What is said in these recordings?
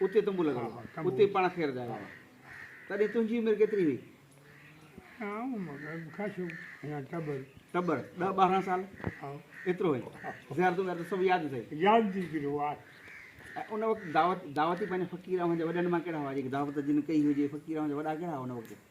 اتي تنبو لڳل هو. اتي پاڻ کي رڌايو هئائين. تڏهن تنهنجي عمر ڪيتري هئي؟ ٽٻر، ڏهه ٻارهن سال ايترو هئين. زيارتون ويارتون سڀ ياد اٿئي؟ ان وقت دعوت، دعوت ئي پنهنجا فقير اوهان جا وڏن مان ڪهڙا هئا جيڪي دعوت جن ڪئي هجي؟ فقير اوهان جا وڏا ڪهڙا هئا ان وقت؟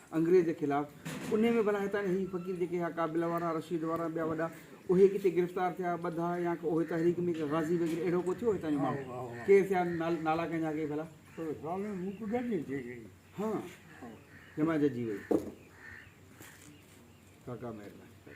انگريز جي خلاف انهي ۾ ڀلا هتان جا هي فقير جيڪي هئا ڪابل وارا رشيد وارا ۽ ٻيا وڏا اهي ڪٿي گرفتار ٿيا ٻڌا يا اهي تحريڪ ۾ غازي وغيره اهڙو ڪو ٿيو هتان جو ماڻهو ڪير ٿيا نالا ڪنهن جا ڪي ڀلا ها جمع ججي وئي ڪاڪا مهرباني